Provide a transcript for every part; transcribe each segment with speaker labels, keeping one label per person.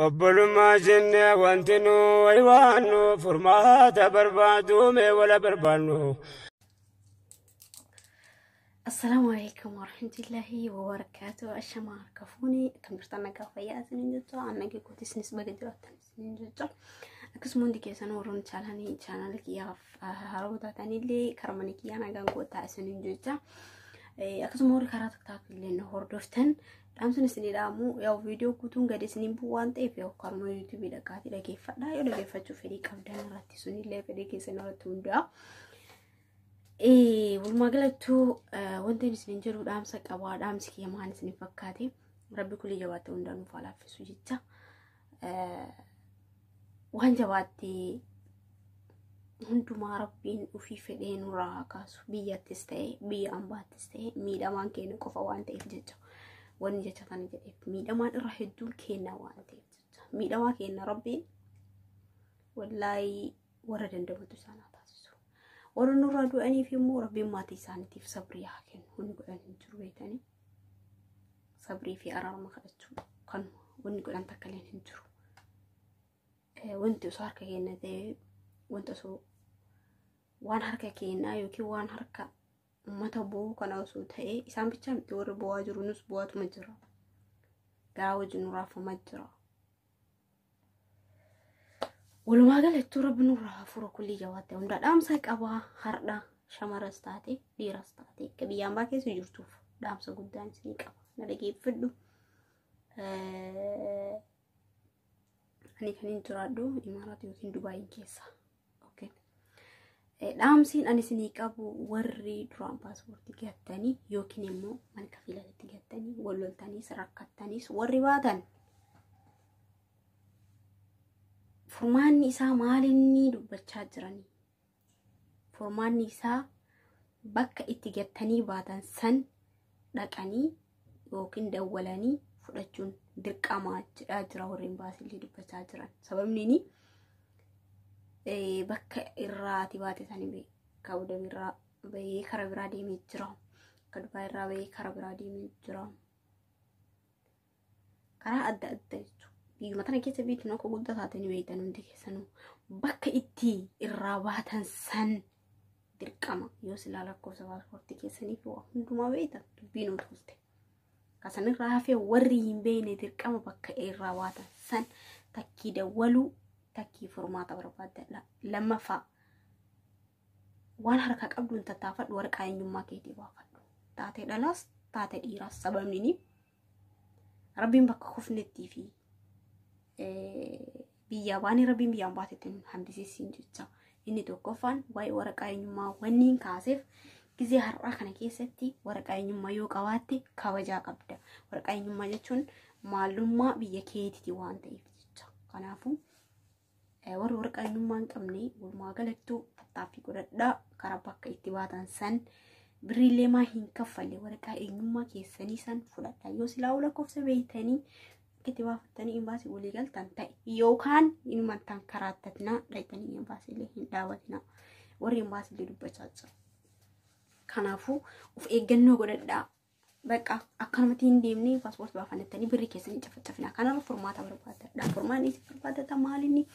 Speaker 1: obbolummaa jenne wanti nu waywaannu furmaata barbaadu mee wala barbaannu.
Speaker 2: Assalaamu alaikum warahmatullahi wabarakatuh. Ashamaa harka fuuni kan jirtan nagaa fayyaa isiniin jirtu annagee kootis nis baga jiraattan. isiniin jecha akkasuma hundi keessan warroonni chaalanii chaanaalii kiyyaaf haroo taatanillee karaa mana kiyyaa nagaan gootaa isiniin jecha akkasuma warri karaa tiktaak illee na hordoftan dhaamsan isinii dhaamu yaw viidiyoo guutuun gadi isiniin bu'u waan ta'eef yaw karuma yuutuubii dhaqaatii dhageeffadha yoo dhageeffachuu fedhii qabdan irratti sunillee fedhii keessan irratti hunda'a. Walumaa galattuu wanti isiniin jedhu dhaamsa qabaa dhaamsi kiyya maal isiniin fakkaate rabbi kulii jabaatee hundaa nuuf haa laaffisuu jecha. waan jabaatti hundumaa rabbiin ofii fedhee nurraa haa kaasu biyyattis ta'e biyya ambaattis ta'e miidhamaan keenya qofa waan ta'eef jecha wanni jecha kana jedheef miidhamaan irra hedduun keenya waan ta'eef jecha miidhamaa keenya rabbiin wallaahi warra dandamatu isaan haa taasisu. Warra nurraa du'aniif immoo rabbiin maatii isaaniitiif sabrii haa kennu. Wanni godhan hin jiru beekanii. Sabrii fi araarama kadhachuu kan wanni godhan takka illee hin jiru. Wanti osoo harka keenya ta'ee wanta osoo waan harka keenyaa yookiin waan harka uummata bo'uu kana osoo ta'ee isaan bichaa miti warri bo'aa jiru nus bo'aatuma jira. Garaa wajjin nu raafamaa jira. Walumaa galattuu rabbi nurraa haa furu kullii jawaatte hundaa dhaamsa qabaa hardha shamaras taate dhiiras taate akka biyya ambaa keessa jirtuuf dhaamsa guddaan isinii qaba na dhageeffadhu. Ani kan hin jiraadhu Imaaraat yookiin Dubaayin keessa. Dhaamsiin ani isinii qabu warri duraan paaspoortii gattanii yookiin immoo mana kafiilatti gattanii wal loltaniis rakkattaniis warri baatan furmaanni isaa maalinni dubbachaa jiranii furmaanni isaa bakka itti gattanii baatan san dhaqanii yookiin dawwalanii fudhachuun dirqamaa jedhaa jira warri imbaasiillee dubbachaa jiran. Sababni inni bakka irraa ati baate sanii kaawudamii irraa bahee kara biraa deemee jira. Akka Dubaay irraa bahee kara biraa deemee jira. karaa adda addaa jechuudha. Biyyuma tana keessa biitti akka guddaa taate ni beektan hundi keessanuu bakka itti irraa baatan san dirqama yoo silaa lakkoofsa paaspoortii keessanii fi waa hundumaa beektan dubbiin ol tuulte. Kasanirraa hafee warri hin beekne dirqama bakka irraa baatan san takkii dawwaluu takkii furmaata barbaadadha. Lammaffaa waan harkaa qabduun tattaafadhu waraqaa eenyummaa keetii baafadhu. Taatee dhalaas taatee dhiiraas sababni ni rabbiin bakka kufnettii fi biyyaa baanii rabbiin biyyaan baatetti nu hambisiisiin jecha inni tokkoffaan waa'ee waraqaa eenyummaa wanniin kaaseef gizee har'aa kana keessatti waraqaa eenyummaa yoo qabaatte kabajaa qabda waraqaa eenyummaa jechuun maalummaa biyya keetiiti waan ta'eef jecha kanaafuu warri warra qabeenyummaa hin qabne walumaa galattuu tattaaffii godhadhaa karaa bakka itti baatan san birriillee maa hin kaffalle waraqaa eenyummaa keessanii san fudhadhaa yoo silaa lakkoofsa beektanii itti baafattanii imbaasii walii galtan ta'e yookaan inuman tan karaattatnaa dhaytanii imbaasiillee hin dhaabatinaa warri imbaasiillee dubbachaa jiru. Kanaafuu of eeggannoo godhadhaa Bakka akkanumatti hin deemne paaspoortii baafannattanii birrii keessanii cafacafina. Kanarra furmaata barbaadadha. Furmaan isin barbaadatan maalinni?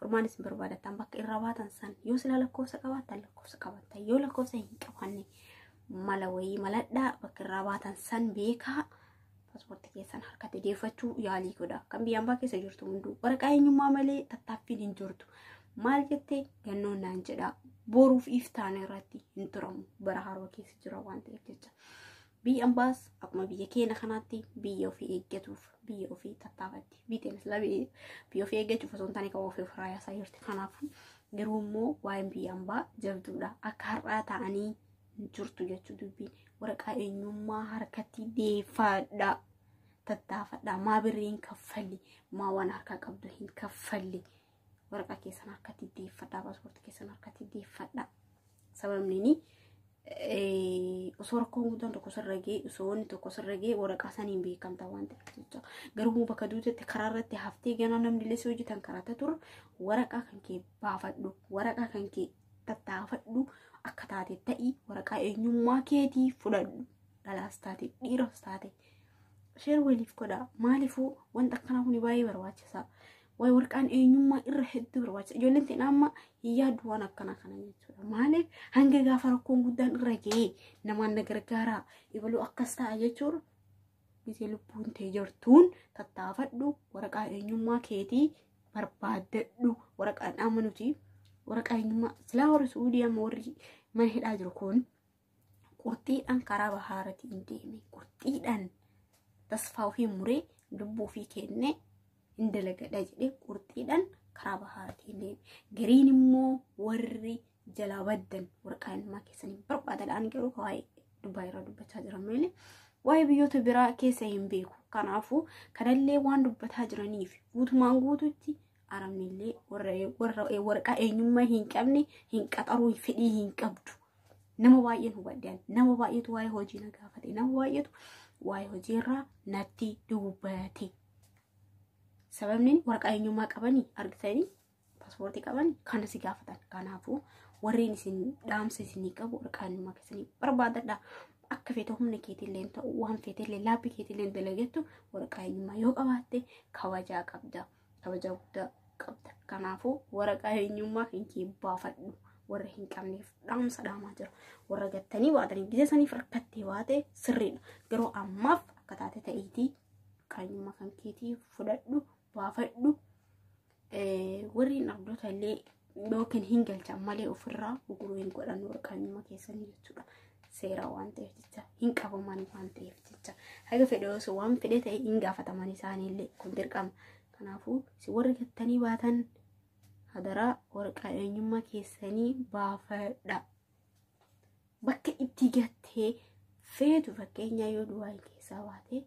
Speaker 2: Furmaan isin barbaadatan bakka irra baatan san yoo silaa lakkoofsa qabaatan lakkoofsa qabaatan yoo lakkoofsa hin qabaanne mala wayii maladhaa bakka irraa baatan san beekaa paaspoortii keessan harkatti deeffachuu yaalii godha. Kan biyya ambaa keessa jirtu hunduu waraqaa eenyummaa malee tattaaffiin hin jirtu. Maal jettee gannoon naan jedhaa boruuf iftaan irratti hin turamu bara haroo keessa. jira waan ta'eef jecha biyyi ambaas akkuma biyya keenya kanaatti biyya ofii eeggatuuf biyya ofii tattaafatti biyyeen islaamii biyya ofii eeggachuuf osoo hin taane kan ofii ofirraa yaasaa jirti kanaafuu garuu immoo waa'een biyya ambaa jabduudha akka har'aa ta'anii hin jirtu jechuu dubbiin waraqaa eenyummaa harkatti deeffaadha tattaafadha maa birrii hin kaffalli maa waan harkaa qabdu hin kaffalli waraqaa keessan harkatti deeffadhaa paaspoortii keessan harkatti deeffadhaa sababni inni osoo rakkoon guddaan tokko sirra ga'e osoo wanni tokko sirra ga'e waraqaa saniin beekamta waan ta'eef jecha garuu bakka duutetti karaa irratti haftee ganaa namni illee si hojjetan karaata ture waraqaa kan kee baafadhu waraqaa kan kee tattaafadhu akka taate ta'i waraqaa eenyummaa keetii fudhadhu dhalaas taate dhiiras taate sheer waliif godhaa maaliifuu wanta akkanaa kun baay'ee barbaachisaa Waa'ee warqaan eenyummaa irra hedduu barbaachisa. Ijoolleen ta'in amma hin yaaddu waan akkana kana jechuudha. Maaliif hanga gaafa rakkoon guddaan irra ga'ee namaan na gargaaraa ibaluu akkas ta'a jechuun gisee lubbuun tee jirtuun tattaafadhu waraqaa eenyummaa keetii barbaaddadhu waraqaan amma nuti waraqaa eenyummaa silaa warri suudii amma warri mana hidhaa jiru kun qurxiidhaan karaa bahaarati hin deeme qurxiidhaan tasfaa ofii muree lubbuu ofii kennee hin dalagadha jedhee qurxiidhaan karaa bahaarati hin deeme gariin immoo warri jalaa baddan warqaa ilmaa keessan hin barbaadadhaan garuu waa'ee dubbaa irraa dubbachaa jiran malee waa'ee biyyoota biraa keessa hin beeku kanaafuu kanallee waan dubbataa jiraniif guutumaan guututti arabnillee warra warra- waraqaa eenyummaa hin qabne hin qaxaruu fedhii hin qabdu Nama baay'een hubadheen nama baay'eetu waa'ee hojii na gaafate nama baay'eetu waa'ee hojii irraa natti dubbate. Sababni waraqaa eenyummaa qabanii argitanii paaspoortii qabanii kana si gaafatan. Kanaafuu warreen isin dhaamsa isinii qabu waraqaa eenyummaa keessanii barbaadadha. Akka feete humna keetillee ta'u waan feetillee laapii keetillee dalagattu waraqaa eenyummaa yoo qabaatte kabajaa qabda. kabajaa guddaa qabda. Kanaafuu waraqaa eenyummaa keetii baafadhu. Warra hin qabneef dhaamsa dhaamaa jira. Warra gattanii baatanii gisee saniif rakkattee baate sirriidha. Garuu ammaaf akka taate ta'iitii qaanyummaa kan keetii fudhadhu baafadhu. Warri hin abdoota illee yookiin hin galchan malee ofirraa guguruu hin godhan warqaanyuma keessanii jechuudha. Seeraa waan ta'eef jecha hin qabaman waan ta'eef jecha haga fedhe osoo waan fedhe ta'e hin gaafataman isaaniillee kun dirqama. Kanaafuu si warri gattanii baatan hadaraa warqaa eenyummaa keessanii baafadha. Bakka itti gattee feetu fakkeenyaa yoo duwwaa keessaa baate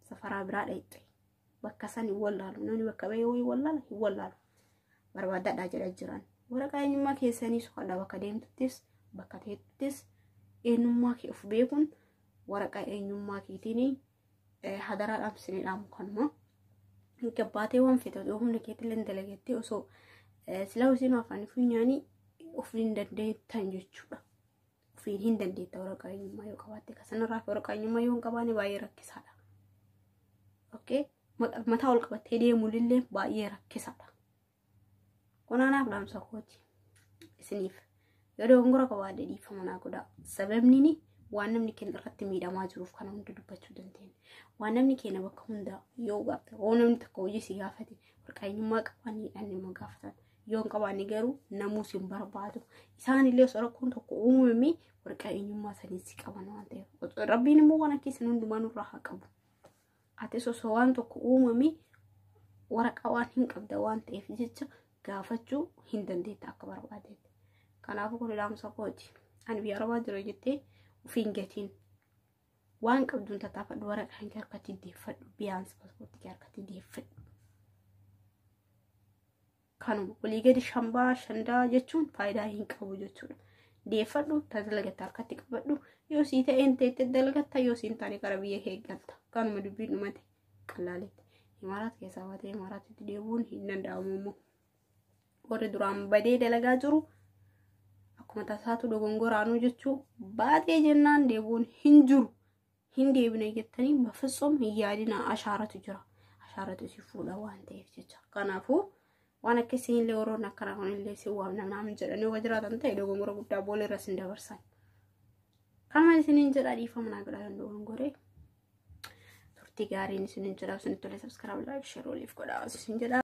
Speaker 2: safaraa biraa dhaqxe. bakka san hin wallaalu namni bakka bahee wayii wallaala hin wallaalu barbaadadhaa jedha jiran waraqaa eenyummaa keessanii soqadhaa bakka deemtuttis bakka teettuttis eenyummaa kee of beekuun waraqaa eenyummaa keetiin hadaraa dhaamsinee dhaamu kanuma gabbaatee waan feete osoo humna keetillee dalagettee osoo silaa hojiin afaan funyaanii of hin dandeettan jechuudha. Ofiin hin dandeetta waraqaa eenyummaa yoo qabaatte ka sanarraa waraqaa eenyummaa yoo hin qabaanne baay'ee rakkisaadha. Okay? Mataa ol qabattee deemuullee baay'ee rakkisaadha. Kunaanaaf dhaamsa kooti isiniif yoo dogongora qabaadde dhiifama naa godhaa. Sababni waan namni keenya irratti miidhamaa jiruuf kana hunda dubbachuu dandeenya. Waan namni keenya bakka hundaa yoo gaafate, yoo namni tokko hojii si gaafate, warqaa eenyummaa qabaan hidhanne ma gaafatan. yoo hin qabaanne garuu namuu si hin barbaadu. Isaan illee osoo rakkoon tokko uumame warqaa eenyummaa sanii si qaban waan ta'eef. Osoo- Rabbiin immoo waan akka isin hundumaa nurraa haa qabu. Atis osoo waan tokko uumame waraqaa waan hin qabda waan ta'eef jecha gaafachuu hin dandeetta akka barbaadetti. Kanaafuu kun ilaamusa kooti. Ani biyya arabaa jira jettee ofiin gatiin Waan qabduun tattaafadhu waraqaan kee harkatti deeffadhu biyaansi paaspoortii kee harkatti deeffadhu. Kanuma olii gadi shambaa shandaa jechuun faayidaa hin qabu jechuudha. Deeffadhu tajaajilagatta harkatti qabadhu yoo sii ta'een teettee dalagatta yoo siin taane gara biyya kee galta. Kanuma dubbiin dhumate qallaaletti. Imaaraat keessaa baatee imaaraatitti deebi'uun hin danda'amu immoo. warri duraan badee dalagaa jiru akkuma tasaatu dogongoraanuu jechuu baatee jennaan deebuun hin jiru hin deebine jettanii bafitsum hin yaadina ashaaratu jira ashaaratu si fuudha waan ta'eef jecha kanaafuu waan akka isinillee warroonni akkanaa kunillee si waamna naamin jedhanii yoo jiraatan ta'e dogongora guddaa boolla irra sin dabarsan kanuma isiniin jedha dhiifama naa godhaa kan dogongoree turtii gaariin isiniin jedha isinitti tolee sabskiraab laayik sheer waliif godhaa isin jedha